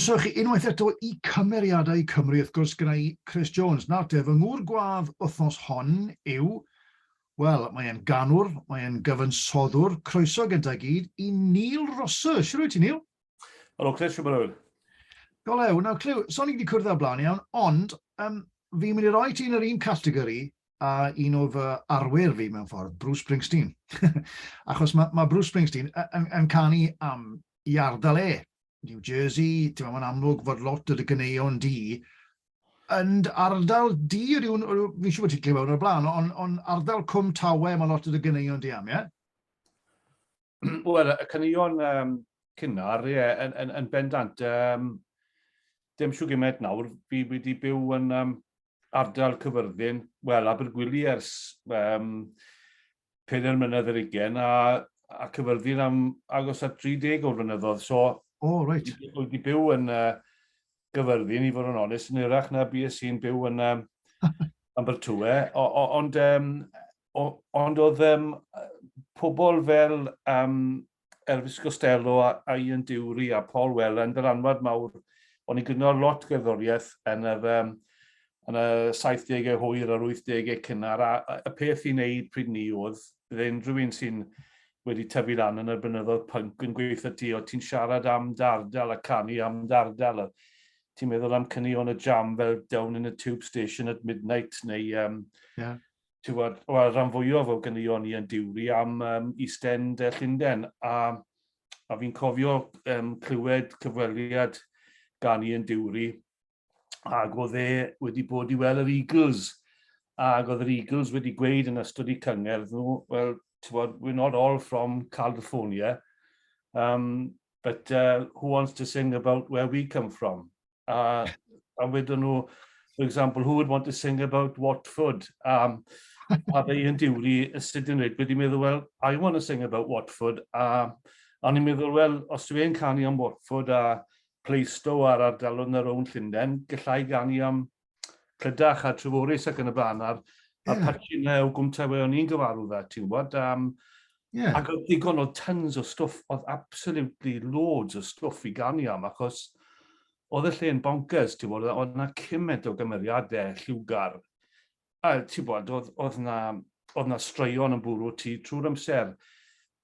Croeso i chi unwaith eto i Cymeriadau Cymru, wrth gwrs gyda i, Chris Jones. Nawr te, fy ngŵr gwadd wythnos hon yw, wel, mae e'n ganwr, mae e'n gyfansoddwr, croeso gynta i gyd i Neil Rosser. Shwt wyt ti, Neil? Helo Chris, shwt mae'n Go lew. Nawr, Clyw, so ni wedi cwrdd ar blaen iawn, ond um, fi'n mynd i roi ti yn yr un categori a un o fy arwyr fi mewn ffordd, Bruce Springsteen. Achos mae ma Bruce Springsteen yn, yn, yn canu am i ardal e, New Jersey, ti'n meddwl, mae'n amlwg fod lot o dy gyneuon di yn ardal di, rhywun, fi'n siŵr bod ti'n clywed o'r blaen, ond on ardal Cwm Tawe mae lot o dy gyneuon di am, ie? Wel, y cyneuon um, cynnar, ie, yn, yn, yn bendant, um, dim siw gymaint nawr, fi wedi byw yn um, ardal cyfyrddin, wel, Abergwili ers um, pedair mlynedd ar ugain, a, a Cyfyrddin am agos at 30 o'r flynyddoedd. So, oh, right. Wyt ti byw yn uh, Gyfyrddin, i fod yn onest, yn yrach na bu sy'n byw yn um, Ambertwe. Ond, um, ond oedd um, pobl fel um, Elvis Costello a, a Ian Dewry a Paul Weller yn ddylanwad mawr. O'n i'n gynnal lot gerddoriaeth yn yr, um, yn y 70au hwyr a'r 80au cynnar, a, a y peth i'n neud pryd ni oedd, bydd unrhyw un sy'n wedi tyfu lan yn y blynyddoedd punk yn gweithio ti, oedd ti'n siarad am dardal a canu am dardal. Ti'n meddwl am cyni o'n y jam fel Down in a Tube Station at Midnight neu um, yeah. tywed, wel, rhan fwyaf o ganeuon ni yn diwri am um, East End uh, Llunden, a, a fi'n cofio um, clywed cyfweliad gan i yn diwri, ac oedd e wedi bod i weld yr Eagles, ac oedd yr Eagles wedi gweud yn ystod i cyngerdd nhw, well, tywed, we're not all from California, um, but uh, who wants to sing about where we come from? A, a wedyn nhw, for example, who would want to sing about Watford? Um, a fe yn diwri sut yn rhaid, wedi meddwl, well, I want to sing about Watford. A, a ni'n meddwl, well, os dwi e'n canu am Watford a Pleisto a'r ardalodd na rown Llundain, gallai ganu am Prydach a Treforys ac yn y blaen, a'r, yeah. a'r patchyn na o gwmta fe o'n i'n gyfarw fe, ti'n gwybod, um, yeah. ac oedd digon o tons o stwff, oedd absolutely loads o stwff i ganu am, achos oedd y lle yn bonkers, ti'n gwybod, oedd yna cymaint o gymeriadau lliwgar, a ti'n gwybod, oedd, oedd na, oedd na straeon yn bwrw ti trwy'r amser,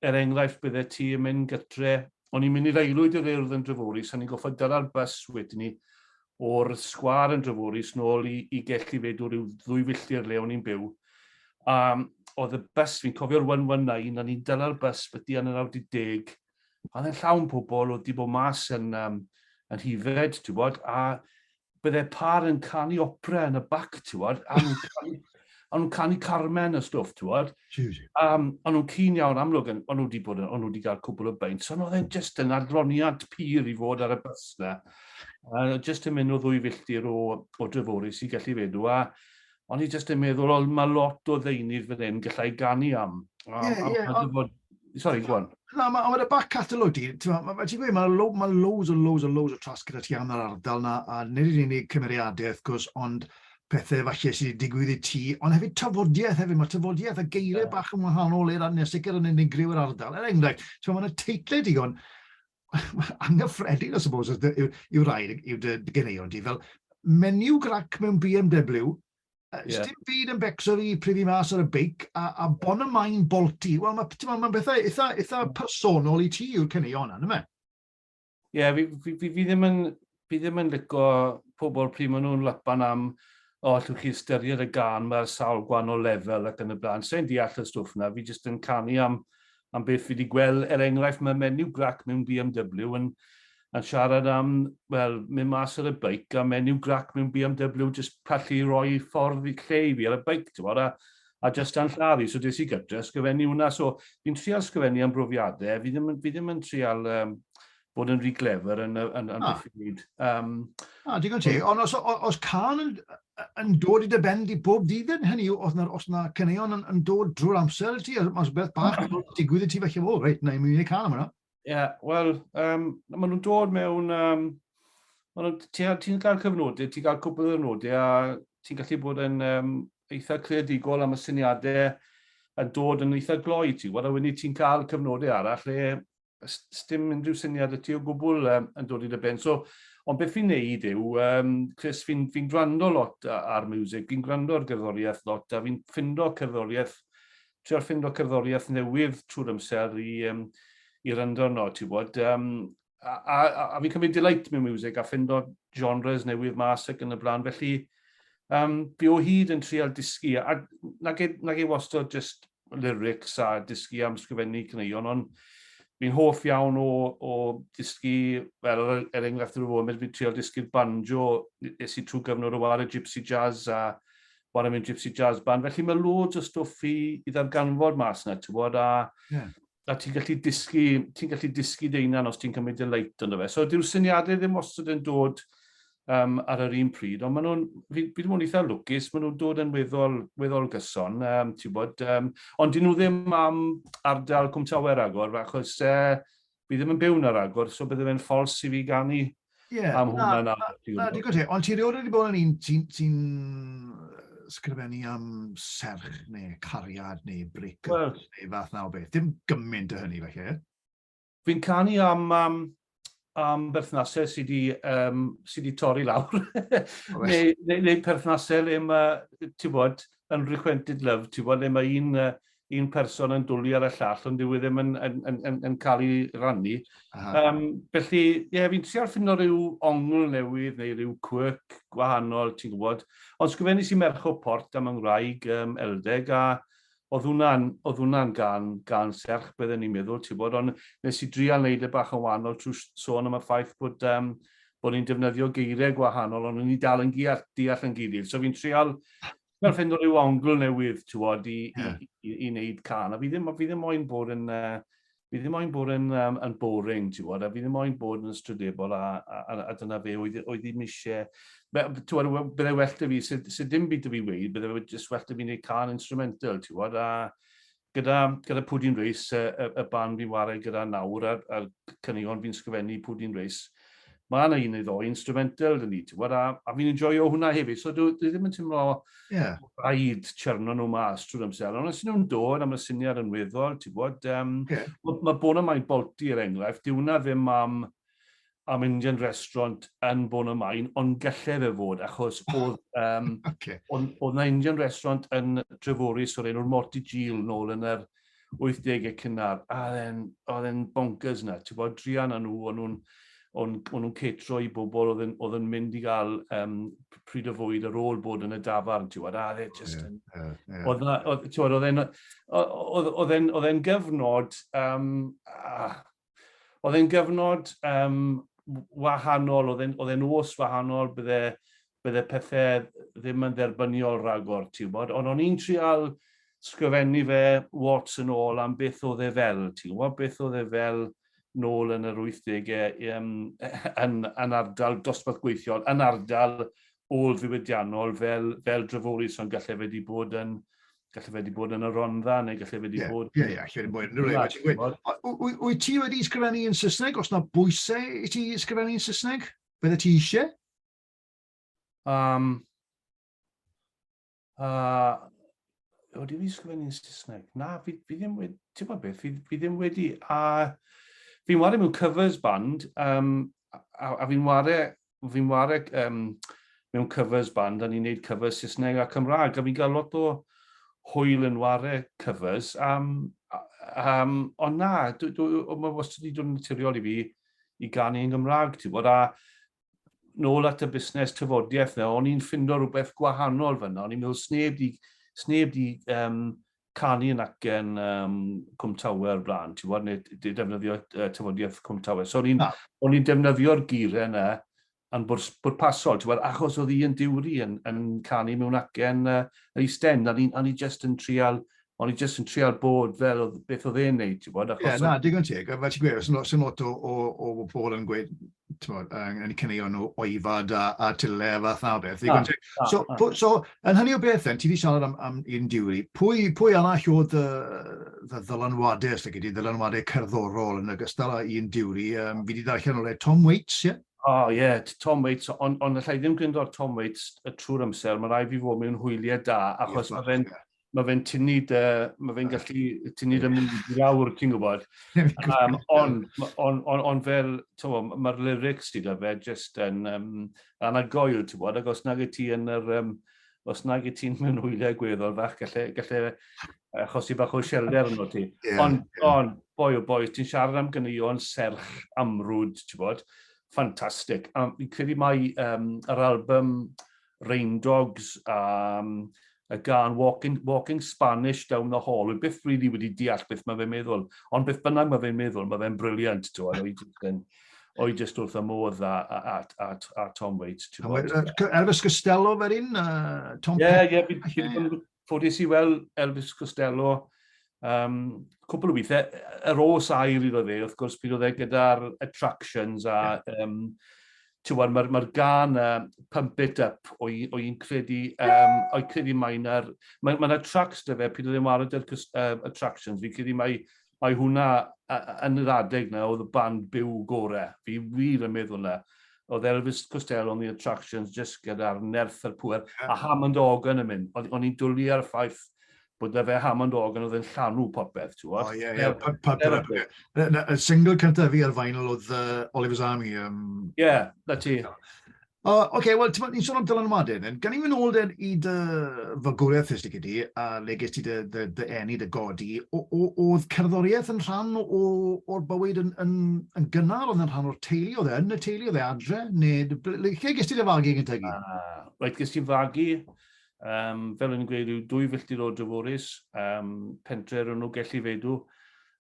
Er enghraifft, byddet ti yn mynd gytre, o'n i'n mynd i'r aelwyd i'r Urdd yn Dreforys, a ni'n gorfod dyla'r bws wedyn 'ny o'r sgwâr yn Dreforys nôl i i Gell i Fedw ryw ddwy filltir le o'n i'n byw, a oedd y bws, fi'n cofio'r one one nine, a ni'n dyla'r bws byty yn yr awr 'di deg, a oedd e'n llawn pobl oedd 'di bod mas yn yym yn Nhifed, ti'n gwybod, a bydde pâr yn canu opera yn y bac, ti'wod, a nhw'n canu, a nhw'n canu Carmen a stwff, ti'wod. Um, a nhw'n cyn iawn amlwg, a nhw wedi bod yn, a nhw wedi cael cwbl o beint. So, oedd e'n just yn adloniant pur i fod ar y bus na. A just yn mynd o ddwy filltir o, o Dreforys i Gelli Fedw, a o'n i jyst yn meddwl, o, mae lot o ddeunydd fan hyn gallai ganu am. O, yeah, am yeah, on... bod... Sorry, go on. Na, mae ma y back catalog di, ti'n ma, ma, gweud, mae lo, ma loads o loads o loads o tras gyda ti am yr ardal na, a nid yn unig cymeriadau, wrth gwrs, ond pethau falle sydd wedi digwydd i ti, ond hefyd tafodiaeth hefyd, mae tafodiaeth a geiriau yeah. bach yn wahanol i'r nes sicr yn unigryw yr ardal. Er enghraifft, ti'n ma, mae yna teitlau digon anghyffredin, I suppose, os yw, yw rhaid yw dy geneion di, fel menu grac mewn BMW, uh, yeah. dim byd yn becso fi pryd i mas ar y beic, a, a bon y main bolti. Wel, mae'n ma bethau eitha, eitha personol i ti yw'r cyneuon yna, yma. Ie, yeah, fi, fi, fi, fi ddim yn fi ddim yn lico pobl pryd maen nhw'n lapan am o, allwch chi ystyried y gan, mae ar sawl gwahanol lefel ac yn y blaen. Sa'n deall y stwff na, fi jyst yn canu am, am beth fi wedi gweld. Er enghraifft, mae menyw grac mewn BMW yn, yn siarad am, wel, mynd mas ar y beic a menyw grac mewn BMW jyst pallu roi ffordd i lle i fi ar y beic, ti'n bod, a, a jyst yn llaru. So des i gytre, ysgrifennu hwnna. So fi'n trial ysgrifennu am brofiadau, fi ddim, fi ddim yn trial um, bod yn rhy glefer yn, yn, yn, yn beth i wneud. Um, ah, digon ti. Ond os, os can yn, yn dod i dy ben di bob dydd yn hynny, os na, os na cyneuon yn, yn dod drwy'r amser ti, os beth bach yn digwydd i ti felly, o, reit, na i mynd i can am yna. Ie, yeah, wel, um, maen nhw'n dod mewn... Um, ti'n ti cael cyfnodau, ti'n cael cwpl o cyfnodau a ti'n gallu bod yn um, eitha creadigol am y syniadau yn dod yn eitha gloi ti. Wel, a wedyn ti'n cael cyfnodau arall lle Sdim unrhyw syniad y ti o gwbl um, yn dod i dy ben. So, ond beth fi'n neud yw, um, Chris, fi'n fi gwrando lot ar music, fi'n gwrando ar gerddoriaeth lot, a fi'n ffindo cerddoriaeth, treol ffindo cerddoriaeth newydd trwy'r amser i, um, i ryndo no, ti bod. Um, a, a, a, a fi'n cymryd delight mewn music a ffindo genres newydd mas ac yn y blaen, felly um, fi o hyd yn treol dysgu, a nag e, nag e wastad just lyrics a dysgu am sgrifennu caneuon, ond fi'n hoff iawn o, o dysgu, fel er, er enghraifft yr foment fi'n trio dysgu'r banjo, nes i trwy gyfnod o war y Gypsy Jazz a war y mynd Gypsy Jazz Band, felly mae loads o stwff i, i ddarganfod mas yna, ti'n bod, a yeah. a ti'n gallu dysgu, ti'n gallu dysgu dy hunan os ti'n cymryd y leit ynddo fe. So dyw'r syniadau ddim wastad yn dod um, ar yr un pryd, ond maen nhw'n, fi, fi ddim yn eitha lwcus, maen nhw'n dod yn weddol, weddol gyson, um, ti'n bod, um, ond dyn nhw ddim am ardal Cwmtawer agor, achos uh, fi ddim yn byw yn yr agor, so bydde fe'n ffals i fi ganu Ie, am hwn mae'n Na, digon te, ond ti rioed wedi bod yn un sy'n sy sgrifennu am serch neu cariad neu bric well, neu fath na o beth. Dim gymaint o hynny felly. Fi'n canu am, am, am berthnasau sydd wedi um, sy di torri lawr. Oh, neu, neu, neu perthnasau le mae, ti'n bod, unrequited love, ti'n bod, le mae un uh, un person yn dwlu ar y llall, ond dyw e ddim yn, yn, yn, yn, yn cael ei rannu. Um, felly, ie, yeah, fi'n trial ffindo rhyw ongl newydd neu rhyw quirk gwahanol, ti'n gwybod. Ond sgrifennu sy'n merch o port am yngwraig um, eldeg, a oedd hwnna'n hwnna gan, gan serch bydden ni'n meddwl, ti'n bod, ond nes i drial wneud y e bach yn wahanol trwy sôn am y ffaith bod, um, bod ni'n defnyddio geiriau gwahanol, ond ni'n dal yn deall yn gilydd. So fi'n trial Mae'n ffeindio rhyw ongl newydd, ti'n bod, i, yeah. i, i, i wneud can. A fi ddim, fi ddim moyn bod yn... Uh, fi ddim moyn bod yn, um, yn boring, ti'n bod, a fi ddim moyn bod yn ystrydebol, a, a, a, a dyna fe oedd, oedd ddim eisiau... Ti'n bod, byddai well da fi, sydd, sydd dim byd da fi weid, byddai jyst well da fi wneud can instrumental, ti'n bod, a Gyda, gyda pwy dwi'n reis, y, y, y band fi'n wario gyda nawr, a'r, a'r cynigon fi'n sgrifennu pwy dwi'n reis, mae yna un neu ddoi instrumental dyn ni, ti'n gwybod, a, a fi'n enjoyo hwnna hefyd, so dwi, dwi ddim yn teimlo yeah. rhaid chyrno nhw mas trwy'r amser, ond os ydyn nhw'n dod am y syniad yn weddol, ti'n gwybod, um, yeah. mae ma Bona Mai Bolti, er enghraifft, dyw hwnna ddim am am mynd i'n restaurant yn Bôn y Maen, ond gallai fe fod, achos oedd, um, okay. oedd, oedd na Indian restaurant yn Treforys o'r enw'r Morty Gil nôl yn yr 80au cynnar, a oedd e'n bonkers na, ti'n bod, drian â nhw, o'n nhw'n o'n, o'n nhw'n catro i bobl oedd yn, oedd yn mynd i gael um, pryd o fwyd ar ôl bod yn y dafarn, ti'n gwybod, a dde just yn... Yeah, yeah, oedd na, oedd, ti'n gwybod, oedd e'n gyfnod, um, a, oedd e'n gyfnod um, wahanol, oedd e'n, oedd e'n os wahanol, bydde, bydde pethau ddim yn dderbyniol rhagor, ti'n bod, ond o'n i'n trial sgrifennu fe wats yn ôl am beth oedd e fel, ti'n gwybod, beth oedd e fel nôl yn yr 80au um, yn, yn ardal dosbarth gweithiol, yn ardal ôl ddiwydiannol fel, fel dryfwrus, ond gallai wedi bod yn, Galle fe wedi bod yn y Rondda, neu galle fe wedi yeah, bod... Ie, yeah, ie, yeah, Wyt ti wedi ysgrifennu yn Saesneg? Os na bwysau i ti ysgrifennu yn Saesneg, bydde ti eisiau? Um, uh, o, dwi wedi ysgrifennu yn Saesneg. Na, fi, fi ddim wedi... Ti'n gwybod beth? Fi, fi ddim wedi... A, fi'n wario mewn covers band, um, a, a fi'n wario fi'n ware um, mewn covers band, a ni'n neud covers Saesneg a Cymraeg, a fi'n cael lot o hwyl yn ware covers, um, um, ond na, mae wastad wedi dod yn naturiol i fi i gan i'n Gymraeg, ti'n bod, a nôl at y busnes tyfodiaeth na, o'n i'n ffindo rhywbeth gwahanol fyna, o'n i'n meddwl sneb di, sneb di um, canu yn acen um, Cwm Tawe o'r blaen, ti'n bod, neu defnyddio uh, tyfodiaeth Cwm Tawe. So o'n i'n ah. ni defnyddio'r geiriau yna yn bwrpasol, ti'n bod, achos oedd un diwri yn, yn canu mewn acen uh, yr eisten, a ni, ni just yn trial O'n i jyst yn trial bod fel oedd beth oedd e'n neud, ti'n bod? Ie, na, digon teg. Fel ti'n gweud, sy'n lot o, o, o bobl yn gweud, tibod, yn cynnig nhw oifad a, a tyle a fath na o beth. Ah, ah, so, ah. so, yn hynny o beth, ti wedi siarad am, am un diwy, pwy, pwy arall oedd y, y ddylanwadau, os ydy, ddylanwadau cerddorol yn ogystal â un diwy, um, fi wedi darllen o'r Tom Waits, ie? Yeah? O, oh, ie, yeah, Tom Waits, ond on, allai ddim gwyndo ar Tom Waits y trwy'r amser, mae rai fi fod mewn hwyliau da, achos yes, mae fe'n yeah. mae fe'n tynnu dy, mae fe'n gallu tynnu dy mwyd i lawr, ti'n gwybod. Um, ond on, on, on fel, mae'r lyrics ti da fe jyst yn um, anagoel, ti'n gwybod, ac os nag i ti yn yr, um, os nag i ti'n mewn hwyliau gweddol fach, gallu, gallu achosi bach o sielder yn o ti. Yeah, ond, yeah. on, boi o boi, ti'n siarad am gynion serch amrwyd, ti'n gwybod, ffantastig. A fi'n credu mai um, yr album Rain Dogs a y gân Walking, Walking Spanish Down the Hall. Rwy byth rili really wedi deall beth mae fe'n meddwl, ond beth bynnag mae fe'n meddwl, mae fe'n briliant, ti'n gwybod, o'i jyst yn, o'i jyst wrth y modd a, a, a, a, a Tom Waits, ti'n gwybod. Elvis Costello fe'r un, uh, Tom Ie, ie, fi wedi ffodus i weld Elvis Costello um, cwpl o weithiau. Yr os air iddo fe, wrth gwrs, bydd oedd e gyda'r attractions a yeah. um, Tywed, mae'r ma gan uh, Pump It Up o, o i'n credu, um, o'i credu mae yna, mae, mae yna tracks dy fe, pryd oedd e'n wario dy'r uh, attractions, fi'n credu mae Mae hwnna yn yr adeg 'na oedd y band byw gore. Fi wir yn meddwl 'na. Oedd Elvis Costello yn The Attractions jyst gyda'r nerth a'r pŵer. A Hammond Organ yn mynd. O'n i'n dwli ar y ffaith bod 'da fe Hammond Organ oedd yn llanw popeth, t'wod? O ie ie. Pa- pa- dyna be. Na na y single cynta fi ar vinyl oedd yy Oliver's Army yym. Ie, 'na ti. O, oh, okay, wel, ti'n sôn am dylanwadau, then. Gan i mynd ôl dyn i dy fagwriaeth ystig ydi, a le ges ti dy, dy, dy enni, dy godi, oedd cerddoriaeth yn rhan o'r bywyd yn, yn, yn gynnar, oedd yn rhan o'r teulu, oedd e yn y teulu, oedd e adre, neu lle ges ti dy fagu gyntaf i gyd? Uh, right, ges ti fagu um, fel yn gweud, yw dwy filltir o Dreforys, um, pentre rhwng nhw gellu feidw.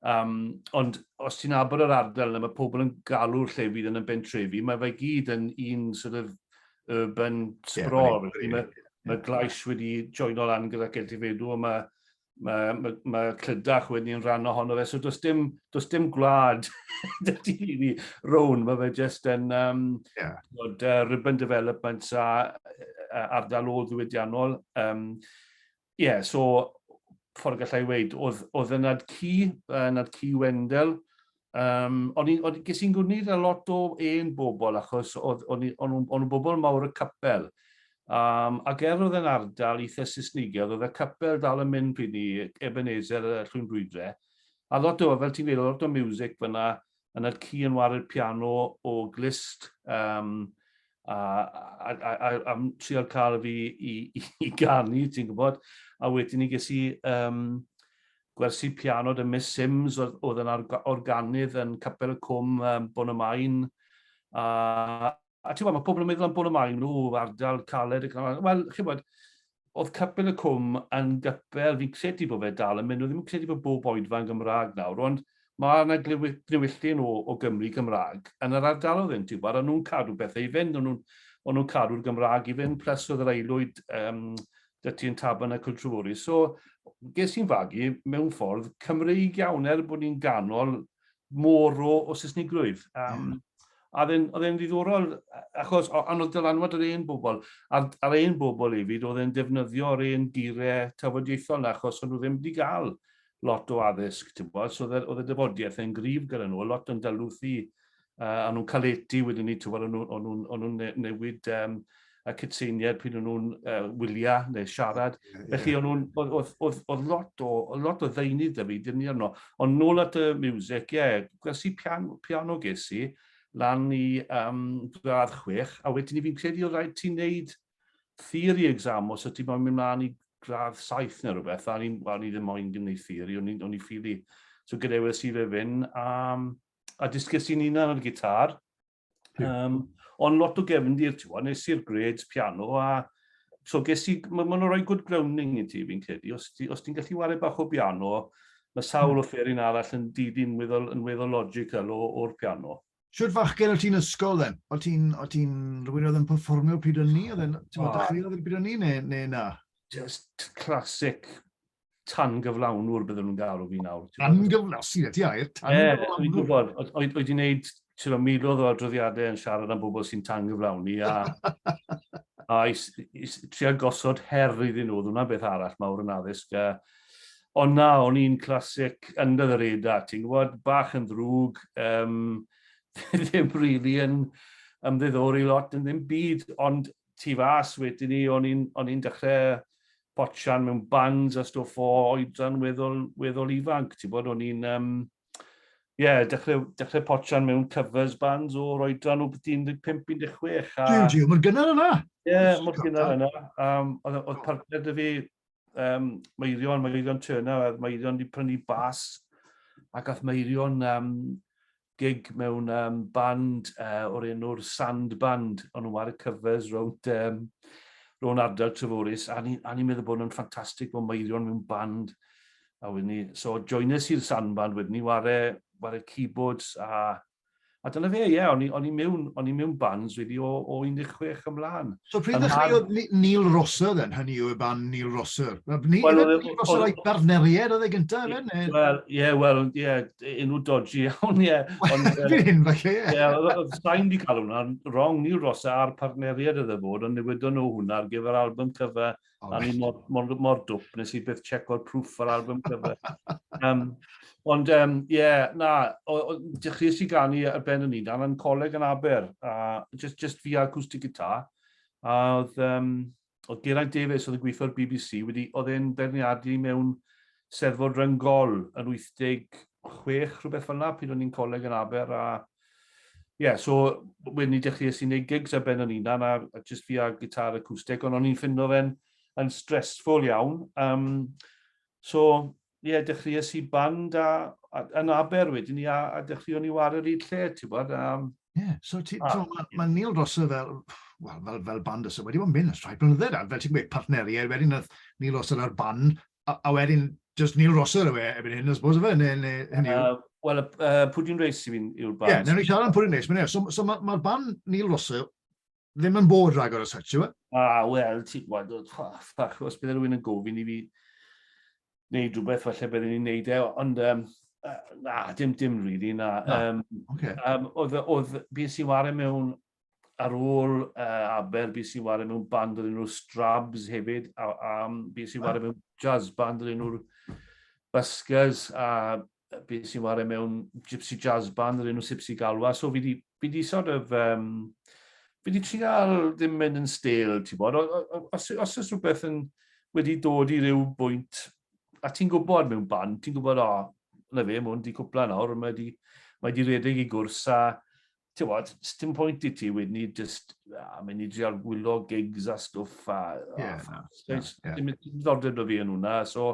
Um, ond os ti'n abod yr ardal yna, mae pobl yn galw'r lle fydd yn y bentrefi, mae fe gyd yn un sort of urban sprawl. Yeah, mae, mae, mae Glais wedi joino lan gyda Celtifeidw, a mae mae, mae, mae Clydach wedi'n rhan ohono fe, so does dim, does dim gwlad dy dyn ni rown, mae fe jyst yn um, yeah. bod, uh, ribbon development a uh, ardal ôl ddiwydiannol. Um, yeah, so ffordd gallai weid, oedd, oedd yn nad cu, yn nad cu Wendell, Um, o'n i, o'n, ges i'n gwneud a lot o un bobl, achos o'n nhw'n bobl mawr y capel. Um, ac er oedd yn ardal eitha Saesnigedd, oedd y capel dal yn mynd pryd ni, Ebenezer y Llwyn Brwydre. A lot o, fel ti'n gwneud, lot o music fyna, yn y ci yn waru'r piano o glist, um, a, a, a, a, a trio cael fi i, i, i ganu, ti'n gwybod. A wedyn ni ges i um, Gwersi piano da Miss Simms oedd yn organydd yn Capel y Cwm, Bôn y Maen. A ti'n gwybod, mae pobl yn meddwl am Bôn y Maen, o, ardal caled ac yna. Wel, chi'n gwybod, oedd Capel y Cwm yn gypel, fi'n credu bod fe dal yn mynd, nhw ddim yn credu bod bob oedfa yn Gymraeg nawr, ond Mae 'na gnewylltu yn ôl o Gymry Gymraeg yn yr ardaloedd hyn ti'n gwybod, o'n nhw'n cadw pethau i fynd, o'n nhw'n o'n nhw'n cadw'r Gymraeg i fynd, plus oedd yr aelwyd um, dy ti yn taban y Cultrefori. So, ges i'n fagu mewn ffordd Cymreig iawn er bod ni'n ganol môr o, o Saesnigrwydd. Um, mm. A oedd e'n ddiddorol, achos ond oedd dylanwad yr un bobl, a'r, ar ein bobl hefyd, oedd e'n defnyddio yr un geiriau tafodieithol na, achos o'n nhw ddim wedi cael lot o addysg, ti'n gwybod, so oedd y dyfodiaeth yn grif gyda nhw, lot yn dalwthu, uh, a nhw'n caledu wedyn ni, ti'n gwybod, o'n nhw'n ne newid um, y cytseiniad pryd o'n nhw'n uh, wyliau neu siarad. Yeah, yeah. Felly o'n nhw'n, oedd lot o, lot o ddeunydd da fi, dyn ni arno. Ond nôl at y music, ie, yeah, gwrs i piano, piano ges i, lan i um, gradd chwech, a wedyn ni fi'n credu oedd rhaid ti'n neud theori exam os ydy moyn mynd mlaen i gradd saith neu rhywbeth, a ni, well, ni ddim moyn gwneud theori, o'n i'n ffili. So gadewes i fe fyn, a, a dysges i'n unan ar y gitar. Um, ond lot o gefndir, ti'n gwybod, nes i'r grades piano, a so ges i, mae'n ma rhoi good grounding i ti, fi'n credu. Os, ti, os ti'n gallu wario bach o piano, mae sawl hmm. o fferin arall yn didyn yn weddol, yn weddol logical o'r piano. Shwt fachgen o ti'n ysgol then? O ti'n, o ti'n rhywun oedd yn performio pryd o'n ni? Oedd e'n, ti'n meddwl, dechreuodd pryd o'n ni, neu, neu na? Just classic tan gyflawnwr bydden nhw'n gael o fi nawr. Tan gyflawnwr, sy'n eto air, tan gyflawnwr. Ie, dwi'n gwybod, oedd wedi wneud ti'n meddwl, miloedd o adroddiadau yn siarad am bobl sy'n tan gyflawni, a, a is, is, trio gosod her iddyn nhw, oedd hwnna'n beth arall mawr yn addysg, a, Ond na, o'n i'n classic under the radar, ti'n gwybod, bach yn ddrwg, um, ddim really yn ymddiddori lot yn ddim byd, ond tu fas wedyn ni, o'n i'n dechrau botchan mewn bands a stwff o oedran weddol, weddol ifanc, ti'n bod, o'n i'n... Um, Ie, yeah, dechrau, dechrau potian mewn covers bands o'r oedran o beth 15-16. A... Jiw, jiw, mae'n gynnar yna. Ie, yeah, mae'n gynnar yna. Um, oedd, oedd partner dy fi, um, Meirion, Meirion Turner, a Meirion wedi prynu bas, ac ath Meirion um, gig mewn um, band uh, o'r enw'r Sand Band, o'n nhw'n wario covers rownd um, ro'n ardal Treforus, a ni'n ni, meddwl bod nhw'n ffantastig bod Meirion mewn band, a wedyn ni, so joinus i'r Sand Band wedyn ni, ware, ware keyboards a A dyna fe, ie, yeah, o'n, o'n i mewn, o'n i mewn bands wedi o, o 16 ymlaen. So pryd ddechreuodd Neil Rosser then, hynny yw y ban Neil Rosser? Ni, well, Neil Rosser a'i barneriaid oedd e gyntaf, efe? Ne? Wel, ie, yeah, wel, ie, yeah, unw dodgy iawn, ie. Dwi'n hyn, falle, ie. Ie, oedd sain di cael hwnna, wrong Neil Rosser a'r partneriaid oedd e fod, ond newydon nhw hwnna ar gyfer album cyfa Oh, a ni mor, mor, mor dwp, nes i byth checko'r proof ar album cover. um, ond, ie, um, yeah, na, dechreuais i ganu ar ben yn unan yn coleg yn Aber, a just, just fi acoustic guitar. A oedd, um, oedd Geraint Davies oedd yn gweithio'r BBC, wedi, oedd e'n berniadu mewn Sef fod Rhyngol yn 86, rhywbeth fel yna, pryd o'n i'n coleg yn Aber, a ie, yeah, so wedyn ni dechreuais i'n neud gigs ar ben o'n hunan, a, a just fi a gitar acoustic, ond o'n i'n ffindo fe'n yn stressful iawn. Um, so, ie, yeah, dechreuais i band a, a, yn Aber wedyn ni, a, a dechreuon ni war yr un lle, ti'n bod. Um, yeah, so ti, a, so, mae ma Neil Rosser fel, well, fel, fel band ysaf wedi bod yn mynd yn rhai blynyddoedd, a fel ti'n gweud, partneriaid wedyn, oedd Neil Rosser ar band, A, a wedyn, just Neil Rosser yw e ebyn hyn, I suppose, yw e, neu, neu hynny yw. Uh, Wel, uh, Pwdin Reis i fi'n yw'r band. Ie, yeah, newn ni siarad am Pwdin Reis, mae'n iawn. So, so mae'r ma band Neil Rosser ddim yn bod rhagor o such, yw e? A, ah, wel, ti'n gweld, ffach, os bydd rhywun yn gofyn i fi wneud rhywbeth, falle byddwn ni'n neud e, ond, um, na, dim, dim rili, really, na. na. Um, okay. um, oedd, oedd, bys i wario mewn ar ôl uh, Aber, bys i'n wario mewn band o'r enw'r Strabs hefyd, a, a bys i'n wario mewn jazz band o'r enw'r Buskers, a bys i'n wario mewn gypsy jazz band o'r enw Sipsy Galwa. So fi di, fi di sort of, um, fi di trial ddim mynd yn stel, ti'n bod, os, os oes rhywbeth yn wedi dod i ryw bwynt, a ti'n gwybod mewn band, ti'n gwybod, o, oh, na fe, mwyn di cwpla nawr, mae di, mae di redeg i gwrs, a tywod, sdim pwynt i ti wedyn ni just, a mynd i drial gwyllo gigs a stwff a... Ie, na. Dim ddiddordeb o fi yn hwnna, so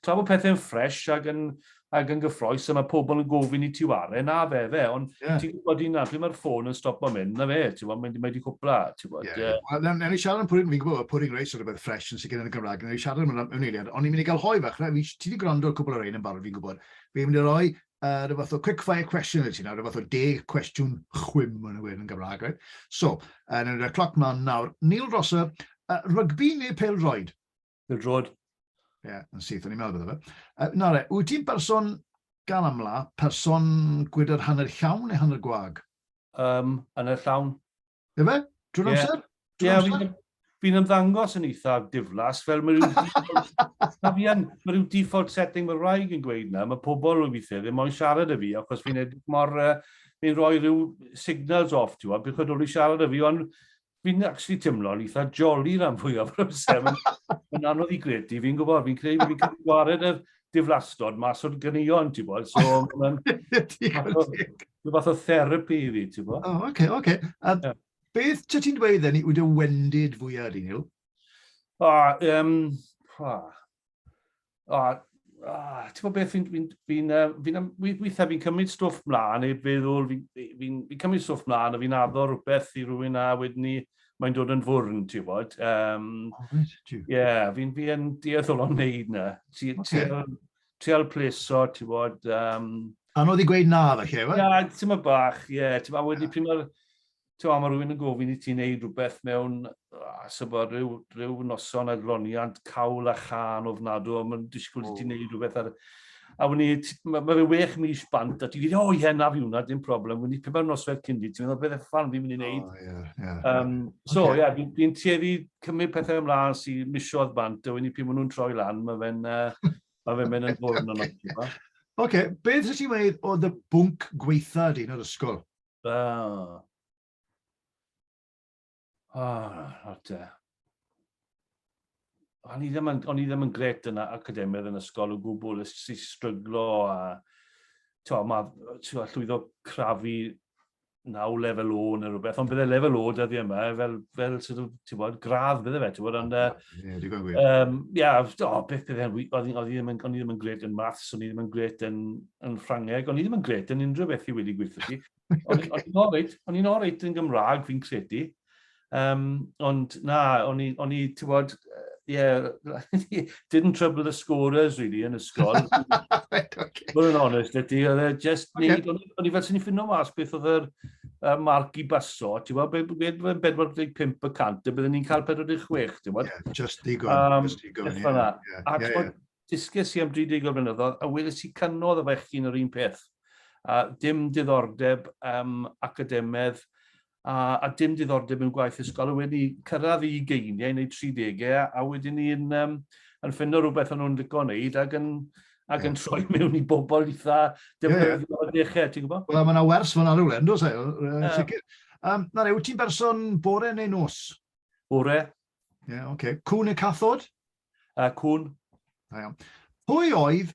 tra bod pethau'n ffres ac yn, ac yn gyffroes, a mae pobl yn gofyn i ti ware, na fe fe, ond yeah. ti'n gwybod un arall, mae'r ffôn yn stop o mynd, na fe, ti'n gwybod, mae wedi cwpla, ti'n gwybod. Yeah. Yeah. Wel, newn ni siarad am pwrin, fi'n gwybod, pwrin reis o'r rhywbeth ffres yn sicr yn y Gymraeg, newn ni siarad am hwnna mewn eiliad, ond ni'n mynd i gael hoi fach, fi, ti wedi gwrando cwbl o'r ein yn barod, fi'n gwybod, fi'n mynd i roi uh, rhyw fath o quick fire question i ti nawr, rhyw fath o deg cwestiwn chwim yn y wir yn Gymraeg, right? So, uh, yn y cloc mlaen nawr, Neil Rosser, uh, rygbi neu pel droed? Pel droed. Ie, yeah, yn syth, o'n i'n meddwl bydde fe. Uh, na re, wyt ti'n person gan amla, person gwydr hanner llawn neu hanner gwag? Um, hanner llawn. Efe? Drwy'r amser? Ie, yeah, fi'n ymddangos yn eitha diflas, fel mae rhyw default, mae rhyw default setting mae rhaid yn gweud na, mae pobl yn weithiau ddim moyn siarad y fi, achos fi'n edrych mor, uh, fi'n rhoi rhyw signals off, ti'n gwybod, beth oedd wedi siarad y fi, ond fi'n actually yn eitha jolly rhan fwyaf o'r amser. Mae'n anodd i gredu, fi'n gwybod, fi'n credu, fi'n credu gwared yr diflastod mas o'r gyneuon, ti'n gwybod, so mae'n... Rhyw fath o therapi i fi, ti'n bo? O, oh, oce, okay, oce. Okay. A yeah. beth ti ti'n dweud then, yw dy wendid fwyaf di, Neil? O, um, o, o, ti'n bod beth fi'n fi, fi, fi, fi, weithiau fi'n cymryd stwff mlaen neu feddwl fi'n fi, fi, fi cymryd stwff mlaen a fi'n addo rhywbeth i rhywun a wedyn ni mae'n dod yn fwrn, ti'n bod. Um, oh, yeah, fi'n fi yn deall o'n wneud na. Ti, okay. ti, trial pleso, ti'n bod... Um... Anodd i gweud na, fe lle, fe? Na, ti'n ma bach, ie. Yeah, ti'n ma wedi yeah. pryd Ti'n ma, mae rhywun yn gofyn i ti'n neud rhywbeth mewn ah, sybod, rhyw, rhyw noson a gloniant cawl a chan o fnadw, a mae'n disgwyl i ti'n neud rhywbeth ar... A wni, mae ma fe wech mis bant, a ti'n gyd, o ie, na fi hwnna, dim problem. Wni, pe mae'r noswedd cyn di, ti'n meddwl, beth efo fan fi'n mynd i wneud? Oh, yeah, yeah. Um, so, ie, yeah. yeah, fi'n tueddu cymryd pethau ymlaen sy'n misiodd bant, a wedyn pryd maen nhw'n troi lan, mae fe'n uh, ma fe mynd yn fwrn yn o'r Oce, beth ydych chi'n meddwl o dy bwnc gweitha di yn yr ysgol? Uh, oh, not uh, o'n i ddim yn, o'n i ddim yn gret yn academydd yn ysgol o gwbl, ys i stryglo a to, ma, to, llwyddo crafu naw lefel o neu rhywbeth, ond bydde lefel o dyddi yma, fel, fel sort of, ti'n bod, gradd bydde fe, ti'n bod, ond... Ie, digon gwir. Um, ia, o, beth bydde, o'n i ddim yn, ddim yn gret yn maths, o'n i ddim yn gret yn, yn Ffrangeg, o'n i ddim yn gret yn unrhyw beth i wedi gweithio ti. O'n i'n oreit, o'n i'n oreit yn Gymraeg, fi'n credu. Um, ond na, o'n i, o'n i, ti'n bod, yeah, didn't trouble the scorers really yn ysgol. right, okay. Bod yn honest, ydy, oedd e just okay. neud, o'n i fel sy'n i ffinno mas beth oedd yr uh, marc i baso, ti'n bod, beth oedd 45 y cant, a byddwn ni'n cael 46, ti'n bod? Yeah, just digon, um, just digon, ie. Yeah, yeah, yeah, yeah, yeah. Disges i am 30 o blynyddoedd, a weles i canodd y fechgyn yr un peth. A dim diddordeb um, academedd, a, a dim diddordeb mewn gwaith ysgol, a wedi cyrraedd i geiniau neu 30 e a wedyn ni'n um, yn ffindo rhywbeth o'n nhw'n licio wneud ac yn, ac yeah. yn troi mewn i bobl eitha defnyddiol yeah, yeah. dechrau, ti'n gwybod? Wel, mae'n awers fyna rhywle, yn dweud, yn sicr. Um, na, yw ti'n berson bore neu nos? Bore. Ie, yeah, oce. Okay. Cwn y cathod? Uh, cwn. Da iawn. Pwy oedd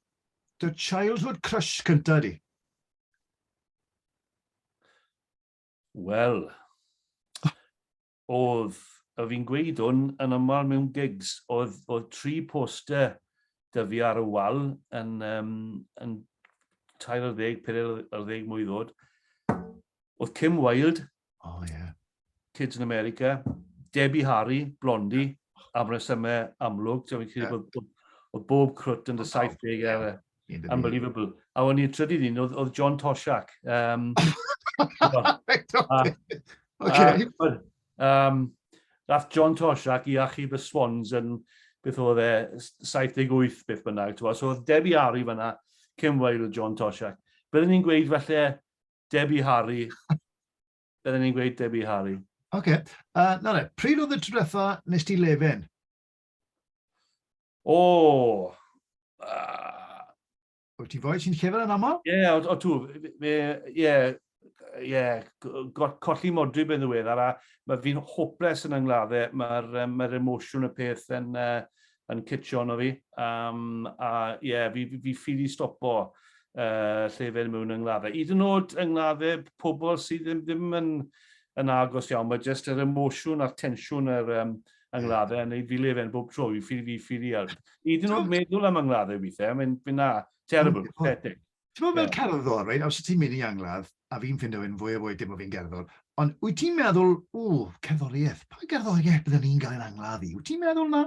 dy childhood crush cyntaf di? Wel, oedd, a fi'n gweud hwn yn aml mewn gigs, oedd, oedd tri poster dy fi ar y wal yn, um, yn 30, 40 mwy ddod. Oedd Kim Wilde, oh, yeah. Kids in America, Debbie Harry, Blondie, am resymau amlwg. Ti'n yeah. bod, bod, bod bob crwt yn dy 70 ar y Unbelievable. A o'n i'r trydydd un, oedd, oedd John Toshak. Um, okay. um, Rath John Toshak i achub y Swans yn, beth oedd e, 78 beth bynnag. So oedd Debbie Harry fyna, Kim Wilde, John Toshak. Byddwn ni'n gweud felly Debbie Harry. Byddwn ni'n gweud Debbie Harry. Oce. Okay. Uh, na ne, pryd oedd y trwytho nes ti lefen? O! Uh... Wyt ti'n foi sy'n llyfr yn aml? Ie, yeah, o, o tu. Ie, yeah, yeah, colli modri ben ddiweddar, a mae fi'n hopeless yn yngladdau. Mae'r um, mae emosiwn y peth yn, uh, yn cytio ono fi. Um, a ie, yeah, fi, fi, fi ffili stopo uh, lle fe mewn yngladdau. Yd yn oed yngladdau pobl sydd ddim, ddim yn, yn agos iawn, mae jyst yr emosiwn a'r tensiwn yr, um, yng ngladdau a wneud fi lefen bob tro, fi ffili fi ffili ar... Hyd yn oed meddwl am yng ngladdau weithiau, mae'n mynd na, terrible, pathetic. Ti'n meddwl fel cerddor, right, os ti'n mynd i angladd, a fi'n ffindo fe'n fwy a fwy dim o fi'n gerddor, ond wyt ti'n meddwl, ww, cerddoriaeth, pa gerddoriaeth byddwn ni'n gael yn angladd i? Wyt ti'n meddwl na?